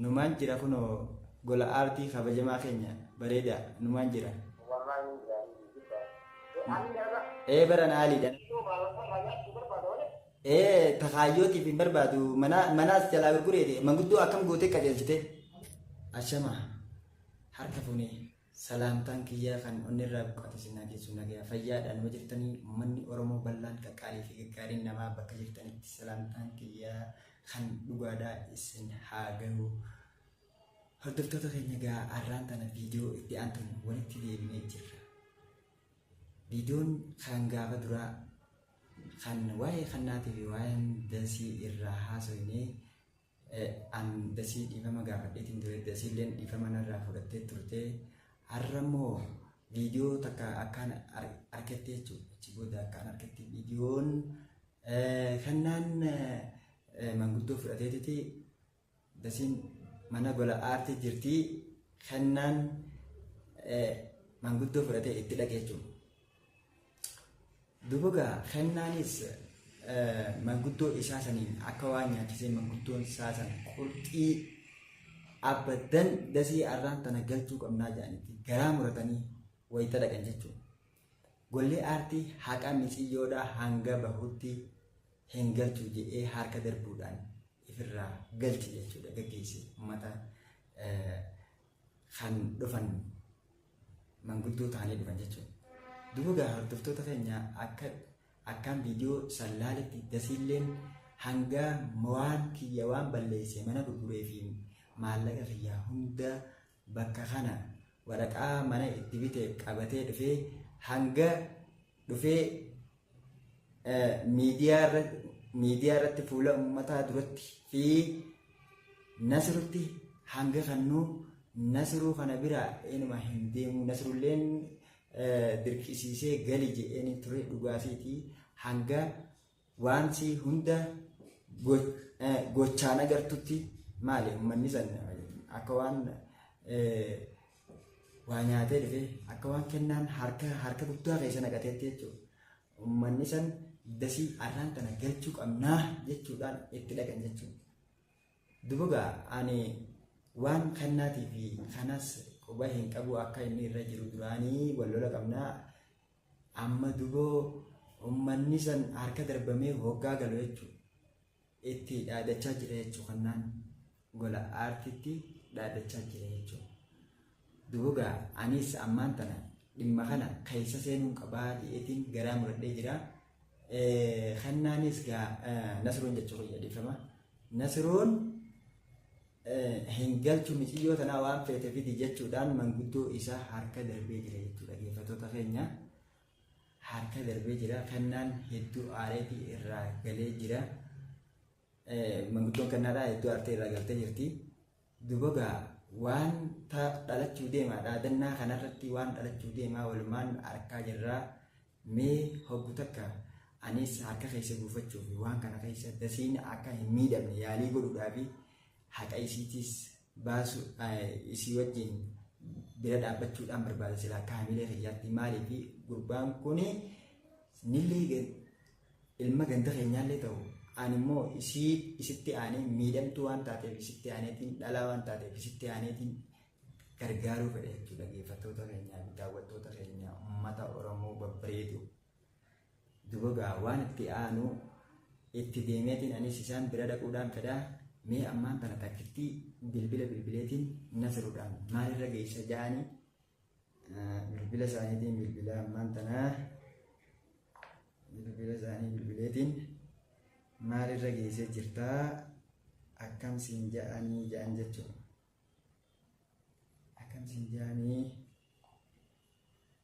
Numaan jira kunoo gola aartii kabajamaa keenya bareedaa numaan jira. Wallahi ni gaarii ni guddaa. Ee ani garba. Ee baran aaliidha. Iddoo baalota irraa nyaachuu barbaada malee. Ee takaayyootiif hin barbaadu mana manaas jalaa gurgureeti manguddoo akkam gootee qajeelchite. Ashama harka fuunee. Salaamtaan kiyyaa kan onnerraa buqqate sinaa geessu nagaya fayyaadhaan yoo jirtanii ummanni Oromoo bal'aan qaqqaalii fi gaggaariin namaa bakka jirtanitti salaamtaan kiyyaa kan dhugaadhaa isin haa gahu. Hordoftoota keenya gaa arraan tana viidiyoo itti aantuun walitti deebinee jirra. Viidiyoon kan gaafa duraa kan waa'ee kannaatii fi waa'een dasii irraa haasofnee an dasii dhiifama gaafadheetiin ture dasiilleen dhiifama narraa fudhattee turte har'a immoo viidiyoo takka akkaan argatte jechuudha achi booda akkaan argatte viidiyoon kannaan manguddoo fudhateetiti dasiin mana gola aartii jirti kannaan manguddoo fudhatee itti dhaqee jechuudha. Duuba gaa kennaanis manguddoo isaa saniin akka waan nyaachisee manguddoon isaa san qurxii abaddan dasii arraan tana galchuu qabnaa jedhanitti garaa muratanii wayita dhaqan jechuudha. Golli aartii haqa miciyyoodhaa hanga bahutti hin galchu jedhee harka darbuudhaan ifirraa galche jechuudha gaggeesse uummata kan dhufan manguddoo ta'anii dhufan jechuudha. Duugaa hordoftoota keenya akka akkaan viidiyoo san laaletti dasiilleen hanga waan kiyya waan balleesse mana gurguree fi maallaqa kiyya hunda bakka kana waraqaa mana itti bite qabatee dhufee hanga dhufee miidiyaa irratti fuula ummataa duratti fi Nasirutti hanga kannuu Nasiruu kana biraa inuma hin deemu Nasirulleen dirqisiisee gali jedheen ture dhugaasiitii hanga waanti hunda gochaan agartutti maali ummanni san akka waan waa nyaatee dhufee akka waan kennaan harka harka guddaa keessa naqateetti jechuudha. Uummanni san dasii arraan kana galchuu qabnaa jechuudhaan itti dhaqan jechuudha. Dubugaa ani waan kannaatii fi kanas quba hin qabu akka inni irra jiru duraanii wal lola qabnaa amma duboo uummanni san harka darbamee hoggaa galu jechuudha. itti dhaadachaa jira jechuu kannaan gola aartiitti dhaadachaa jira jechuu duugaa anis ammaan tana dhimma kana keessa seenuun qabaa dhi'eetiin garaa muradhee jira kannaanis gaa nasroon jechuu kiyya dhiifama nasroon hin galchu miciyyoo tanaa waan feete fidi jechuudhaan manguddoo isaa harka darbee jira jechuudha geeffatoota keenya harka darbee jira. Kannaan hedduu aareetii irraa galee jira. Manguddoon kannaadhaa hedduu aartee irraa galtee jirti. Dubagaa waan dhalachuu deemaa dhaadannaa kanarratti waan dhalachuu deemaa walumaan arkaa jirraa mee hoggu takka anis harka keessa buufachuuf waan kana keessa dasiin akka hin miidhamne yaalii godhuudhaafi haqa isiitiis baasu isii wajjin bira dhaabbachuudhaan barbaada silaa akka hamilee kiyyaatti maaliifi gurbaan kun nillee ilma ganda keenyaallee ta'u ani immoo isii isitti aanee miidhamtuu waan taateef isitti aaneetiin dhalaa waan taateef isitti aaneetiin gargaaruu fedha jechuudha dhaggeeffattoota keenyaa fi daawwattoota keenyaa uummata Oromoo babbareedu. Duba gaa waan itti aanu itti deemeetiin anis isaan bira dhaquudhaan fedha mee ammaan tana takkittii bilbila bilbileetiin nasirudhaan maalirra geessa ja'anii bilbila isaaniitiin bilbila ammaan tana bilbila isaanii bilbileetiin maalirra geessee jirtaa akkam siin ja'anii ja'an jechuudha akkam siin ja'anii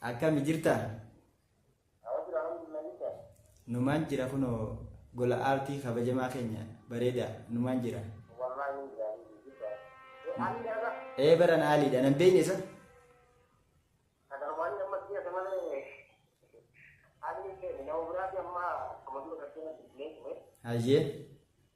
Akkami jirta? Numaan jira kunoo gola aartii kabajamaa keenya bareeda numaan jira. Ee baran haaliidha nan beekne isa. Hayyee.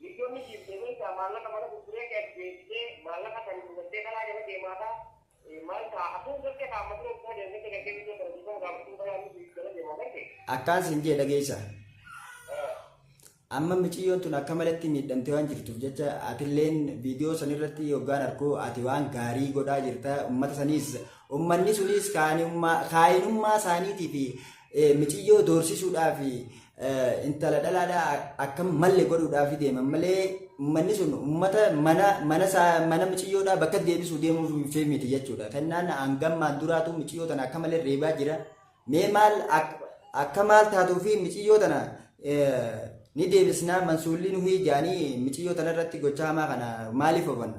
Viidiyoon ni dhiifte beektaa maallaqa mana gurguree kee as deebisee maallaqa san gubattee karaa jala deemaata maal ta'a atuu garte kaa amma dura kuma deemgatte gartee viidiyoo sana dhiifama gaafachuu balaa ni dhiif jala deema garte. Akkaan siin jee dhageessa. Amma miciyyoon tun akka malatti miidhamtee waan jirtuuf jecha atilleen viidiyoo san irratti yoggaan arku ati waan gaarii godhaa jirta ummata saniis ummanni suniis kaayinummaa isaaniitii fi Eh, miciyyoo doorsisuudhaa fi eh, intala dhalaadhaa akkam malle godhuudhaa fi deeman malee ummanni sun ummata mana mana isaa- mana miciyyoodhaa bakka deebisuu deemuuf fi miti jechuudha. Kennaan hangammaan duraatu miciyyoo tana akka malee reebaa jira. Mee maal ak- akka maal taatuu fi miciyyoo tana eh, ni deebisnaa mansuulli nuhi jaanii miciyyoo tana irratti gochaa hamaa kana maaliif ofanna?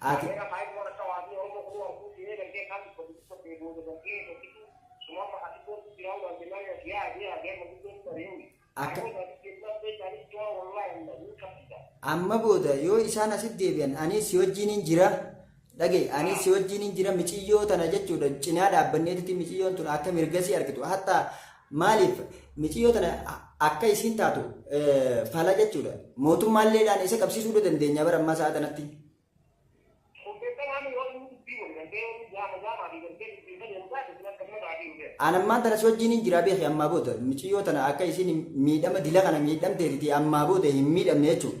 Ati akka amma booda yoo isaan asitti deebi'an anis si wajjiniin jira Dhagahi ani si wajjin hin jira miciyyoo tana jechuudha cinaa dhaabbanneetti miciyyoon tun akka mirgasii argitu hatta maaliif miciyyoo tana akka isiin taatu fala jechuudha mootummaalleedhaan isa qabsiisuu dandeenya bara ammaa sa'a kanatti. An ammaan tana si wajjin hin jira beeki ammaa booda miciyyoo tana akka isiin miidhama dila kana miidhamteetti ammaa booda hin miidhamne jechuudha.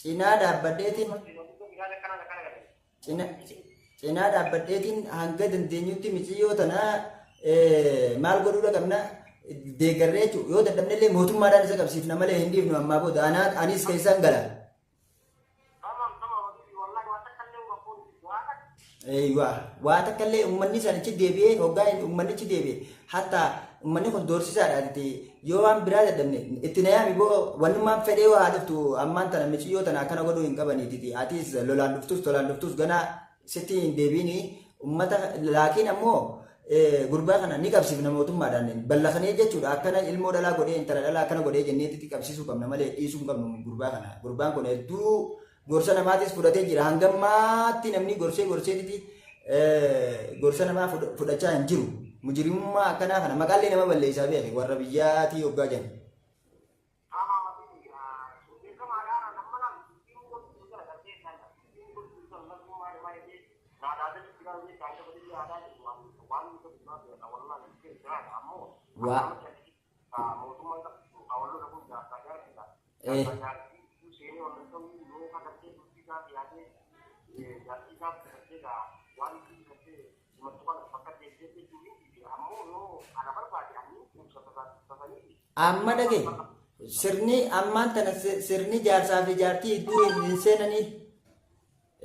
cinaa dhaabbadheetiin cina- cinaa dhaabbadheetiin hanga dandeenyutti miciyyoo tana eh, maal godhuudha qabna deeggarree jechuudha yoo dadhabne illee mootummaadhaan isa qabsiifna malee hin dhiifnu ammaa booda anaa anis keessaan gala Eeywaa. Waa takka illee uummanni sanichi deebi'ee hoggaa inni uummannichi deebi'e hatta uummanni kun doorsisaadha itti yoo waan biraa dadhabne itti nayaami boo wannummaan fedhee yoo haa dhuftu ammaan tana miciyyoo tana akkana godhuu hin qabaniititi atis lolaan dhuftus tolaan dhuftus ganaa sitti hin deebiini uummata laakiin ammoo eh, gurbaa kana ni qabsiifna mootummaadhaan ballakanee jechuudha akkana ilmoo dhalaa godhee intala dhalaa akkana godhee jenneetitti qabsiisuu qabna malee dhiisuu hin qabnu gurbaa kana gurbaan kun hedduu Gorsa namaatis fudhatee jira. Hanga ammaatti namni gorsee gorseetiti gorsa namaa fudhachaa hin jiru. Mujrimummaa akkanaa kana maqaallee nama balleessaa beeke warra biyyaatii hoggaa jenna. Amma dhage sirni ammaan tana sirni jaarsaa fi jaartii iddoo hin seenanii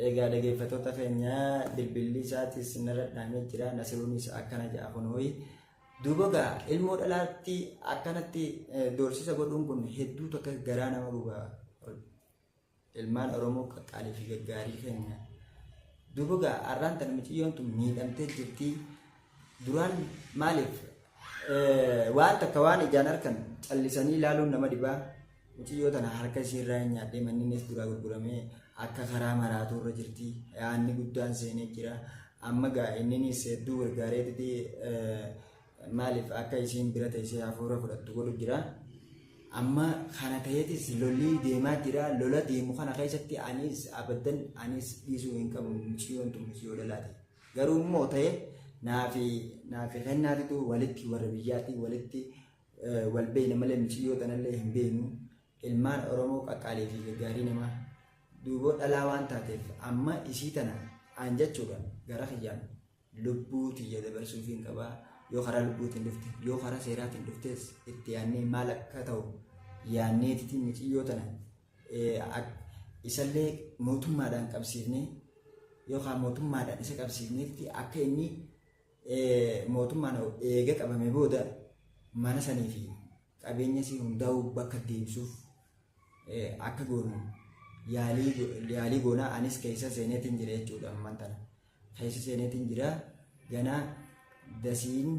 Eegaa dhageeffattoota keenya bilbilli isaatis narra dhahamee jira nasiruunis akkana jedha kunooyi. Duuba gaa ilmoo dhalaatti akkanatti doorsisa godhuun kun hedduu takka garaa nama guba. Ilmaan Oromoo qaqqaalii fi gaggaarii keenya. Duuba gaa har'aan tana miciyyoon tun miidhamtee jirti. Duraan maaliif waan takka waan ijaan arkan callisanii ilaaluun nama dhibaa muciyyoo tana harka ishee irraa hin nyaadhee manninis duraa gurguramee akka karaa maraatuu irra jirti yaanni guddaan seenee jira amma gaa inninis hedduu gargaareetiti maaliif akka isiin bira teessee hafuura fudhattu godhu jira amma kana ta'eetis lolli deemaa jira lola deemu kana keessatti anis abaddan anis dhiisuu hin qabu muciyyoon tun muciyyoo dhalaate. Garuu immoo ta'e naafi naafi kennaatitu walitti warra biyyaatti walitti eh, wal beeyna malee miciyyoo tanallee hin beeynu ilmaan Oromoo qaqqaalee fi gaggaarii namaa duuboo dhalaa waan taateef amma isii tana aan jechuudha gara kiyyaan lubbuu tiyya dabarsuuf hin qabaa yoo karaa lubbuutiin dhufte yoo karaa seeraatiin dhuftes itti yaannee maal akka ta'u yaanneetitiin miciyyoo tana isallee mootummaadhaan qabsiifnee yookaan mootummaadhaan isa qabsiifnetti akka inni mootummaan eega qabame booda mana sanii fi qabeenya isii hundaa'uu bakka deebisuuf akka goonu yaalii goonaa anis keessa seeneetiin jira jechuudha ammaan tana keessa seeneetiin jira ganaa dasiin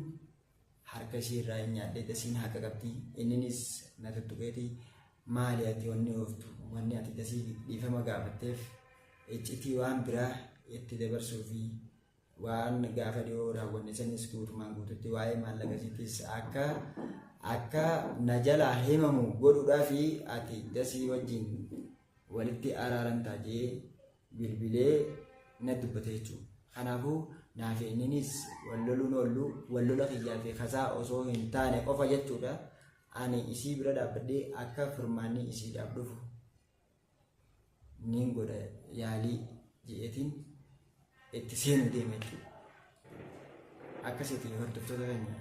harka ishii irraa hin nyaadhee dasiin haqa qabdi inninis na tuttuqeeti maali ati wanni ooftu wanni ati dasii dhiifama gaafatteef iccitii waan biraa itti dabarsuu fi waan gaafa dhiyoo raawwanne sanis guutumaan guututti waa'ee maallaqasiitis akka akka na jalaa himamu godhuudhaa fi ati dasii wajjin walitti araaramtaa jee bilbilee na dubbate jechuudha. Kanaafuu naa fi inninis wal loluun oollu wal lola kiyyaa fi kasaa osoo hin taane qofa jechuudha. Ani isii bira dhaabbadhee akka furmaanni isiidhaaf dhufu niin godha yaalii jedheetiin itti seenuu deeme jechuudha. Akkasitti hordoftoota keenya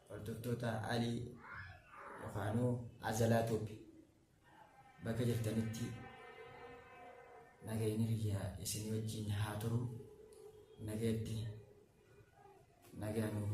hordoftoota alii yookaanuu azalaa tuubi Bakka jirtanitti nagayni kiyyaa isin wajjin haa turu nagayatti nagaa nuuf